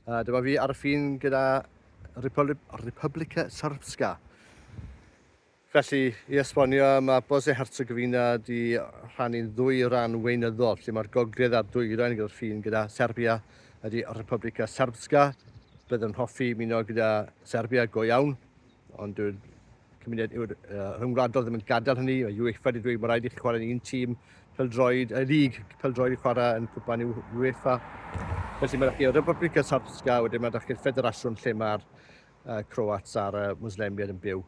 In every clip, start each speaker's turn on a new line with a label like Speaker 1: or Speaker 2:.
Speaker 1: A dyma fi ar y ffin gyda Republika Srpska. Felly, i esbonio, mae Bosnia Herzegovina di rhannu'n ddwy ran weinyddol, lle mae'r gogledd a'r dwyrain gyda'r ffin gyda Serbia ydy Republika Srpska. Bydd yn hoffi muno gyda Serbia go iawn. Ond dyw'r cymuned yw'r uh, rhyngwladol ddim yn gadael hynny. Mae UEFA wedi dweud mae rhaid i chi chwarae yn un tîm peldroed, y lig peldroed i chwarae yn cwpan UEFA. Felly mae chi o Republika Srpska, wedyn mae chi'r ffederasiwn lle mae'r uh, Croats a'r uh, Muslemiad yn byw.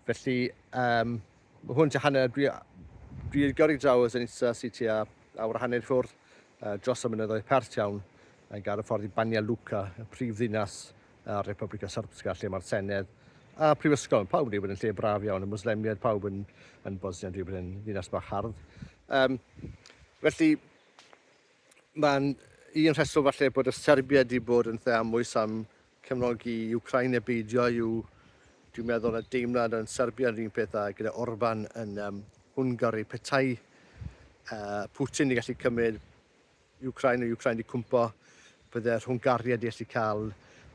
Speaker 1: Felly, um, mae hwn tua hanner, dwi, dwi i'r gyrru draw o Zenica sy'n tua awr a hanner ffwrdd uh, dros y mynyddoedd pert iawn yn gael y ffordd i Banja Luka, y prif ddinas a'r Republika Srpska lle mae'r Senedd a prifysgol, pawb yn dweud bod yn lle braf iawn, y Muslemiaid, pawb yn, yn Bosnia yn dweud bod yn ddinas bach hardd. Um, felly, mae'n un rheswm falle bod y Serbia wedi bod yn lle amwys am cefnogi Ukraine neu beidio i'w dwi'n meddwl na deimlad yn Serbia yn un peth a gyda Orban yn um, Hwngari, petai uh, Putin i gallu cymryd Wcráin o Wcráin 'di cwmpo, bydde Rhwngariad 'di allu cael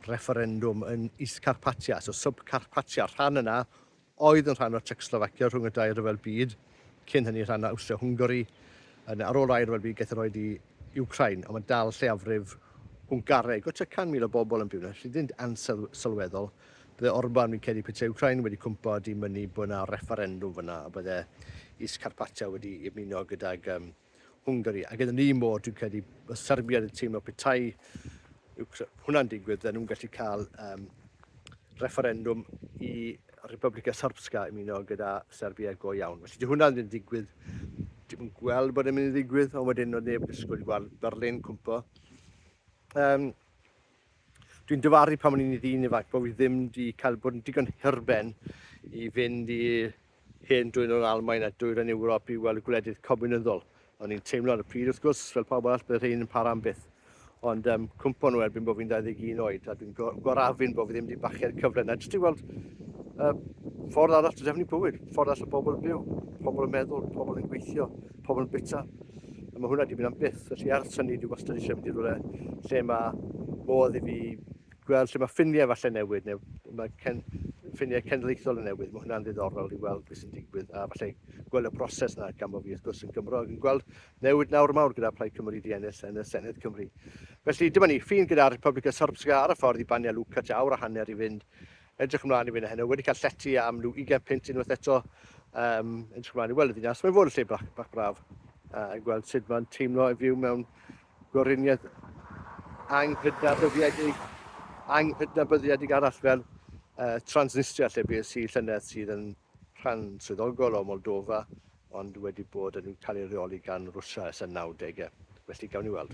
Speaker 1: refferendwm yn East Carpatia, so Sub-Carpatia, y rhan yna oedd yn rhan o Tsiecoslofacia rhwng y dau ryfel byd, cyn hynny rhan o Awstria-Hwngari, yn, ar ôl yr ail ryfel byd gaeth yr oed i Wcráin, ond mae dal lleiafrif Hwngaraeg o tua 100,000 o bobl yn byw yna, felly ddim ansawdd sylweddol. Bydde Orban, fi'n credu, petai Wcráin wedi cwmpo, 'di mynnu bod yna refferendwm fanna, a bydde East Carpatia wedi ymuno gydag um, Hwngari, ac yn yr un modd dwi'n credu bod Serbia yn teimlo petai hwnna'n digwydd, fydden nhw'n gallu cael um, referendwm i Republika Srpska ymuno gyda Serbia go iawn. Felly dyw hwnna ddim yn digwydd, dim yn gweld bod yn mynd i ddigwydd, ond wedyn oedd neb yn disgwyl i weld Berlin cwmpo. Um, Dwi'n dyfaru pan o'n i'n ddyn ifanc bod fi ddim wedi cael bod yn digon hirben i fynd i hen dwy'n o'r Almain a dwy'r yn Ewrop i weld y gwledydd comiwnyddol. O'n i'n teimlo ar y pryd, wrth gwrs, fel pawb arall, bydd rhain yn para am byth. Ond um, cwmpo nhw erbyn bod fi'n 21 oed, a dwi'n gorafin bod fi ddim wedi bachu'r cyfle na jyst i weld uh, ffordd arall o defnydd bywyd, ffordd arall o bobl yn byw, pobl yn meddwl, pobl yn gweithio, pobl yn bwyta. A mae hwnna wedi mynd am byth. Felly ar syni dwi wastad eisiau mynd i rhywle lle mae modd i fi gweld lle mae ffiniau falle newid neu mae cen, ffiniau cenedlaethol yn newid. Mae hwnna'n ddiddorol i weld beth sy'n digwydd a falle gweld y broses yna gan bod fi wrth gwrs yn Gymro ac yn gweld newid nawr mawr gyda Plaid Cymru di ennill yn y Senedd Cymru. Felly dyma ni, ffin gyda'r Republica Srpska ar y ffordd i Banja Luka, tua awr a hanner i fynd Edrych ymlaen i fynd heno, wedi cael llety am rhyw ugain punt unwaith eto. Um, edrych ymlaen i weld y ddinas. Mae'n fod yn lle bach, bach braf. Uh, yn gweld sut mae'n teimlo i fyw mewn goriniaeth anghydnabyddiedig, anghydnabyddiedig arall fel uh, Transnistria lle bues i llynedd sydd yn rhan swyddogol o Moldova ond wedi bod yn cael ei reoli gan Rwsia ers y 90au. Felly gawn ni weld.